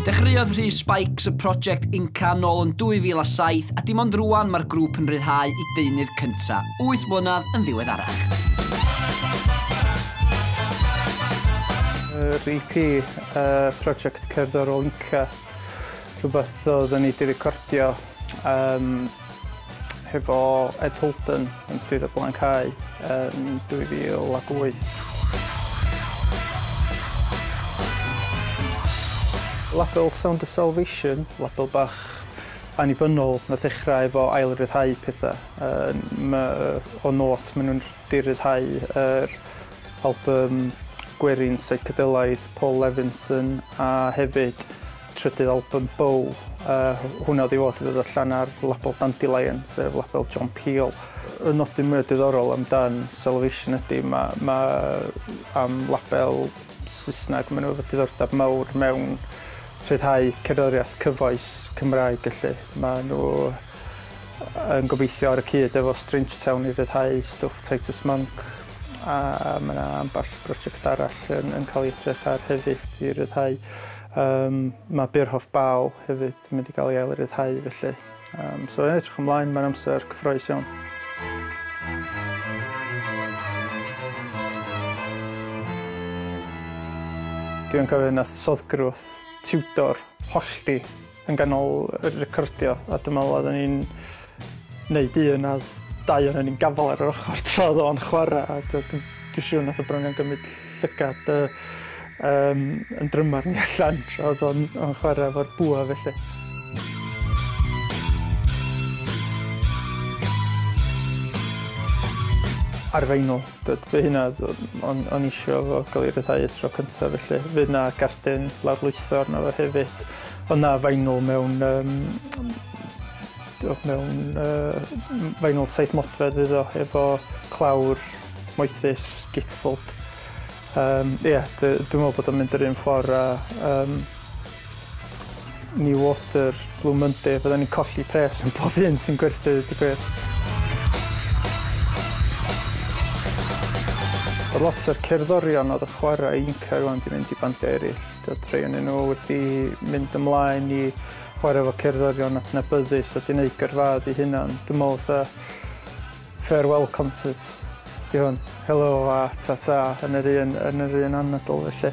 Dechreuodd rhy Spikes y prosiect Inca nôl yn 2007 a dim ond rwan mae'r grŵp yn rhyddhau i deunydd cynta, 8 mlynedd yn ddiweddarach. Yr EP, y prosiect cerddorol Inca, rhywbeth oedd yn ei di-recordio um, Hefo Ed Holden yn styr y Blaen Cau yn 2008. Label Sound of Salvation, label bach annibynnol na ddechrau efo ail-ryddhau pethau. Um, ma, o not maen nhw'n diryddhau yr album gwerin psychedelaidd Paul Levinson a hefyd trydydd albwm Bow, a hwnna oedd i fod i ddod allan ar label Dandelion, sef label John Peel. Y nodyn mwyaf diddorol amdan Salvation ydy, mae ma am label Saesneg, maen nhw efo diddordeb mawr mewn rhyddhau cerddoriaeth cyfoes Cymraeg, felly. Maen nhw yn gobeithio ar y cyd efo Strange Town i rhyddhau stwff Titus Monk, a mae yna ambell brosiect arall yn, yn cael ei edrych ar hefyd i rhyddhau. Yym, mae Beerhoff Bâl hefyd yn mynd i gael ei ail-ryddhau felly. Yym, so ie, edrych ymlaen, mae'n amser cyffroes iawn. Dwi'n cofio nath Soddgrwth tiwtor hollti Yn ganol yr recordio, a dwi'n meddwl oedden ni'n neud un a dau oedden ni'n gafal ar yr ochr tra oedd o'n chwarae a dwi'n dwi siŵr nath y brynion gymryd llygad uh, um, yn drymar ni allan tra oedd o'n on chwarae efo'r bwa felly. arfeinol. Fe hynna, o'n, on eisiau fo gael ei ryddhau y tro cyntaf, felly fe yna gardyn lawrlwytho arno fo hefyd. Ond na vinyl mewn yym t'wod mewn yy vinyl saith modfedd fydd o efo clawr moethus gatefold. Yym ie dy- dwi me'wl bod o'n mynd yr un ffor a yym Newater, Blue Monday fyddan ni'n colli pres am pob un sy'n gwerthu deud y gwir. Lot o'r cerddorion odd yn chwara i Inca rŵan 'di mynd i bandia eryll. Doedd rhai ohonyn nhw wedi mynd ymlaen i chwarae efo cerddorion adnabyddus a 'di neud gyrfaoedd eu hunan. Dwi'n me'wl fatha farewell concert 'di hwn. Helo a tata yn yr un yn yr un anadl felly.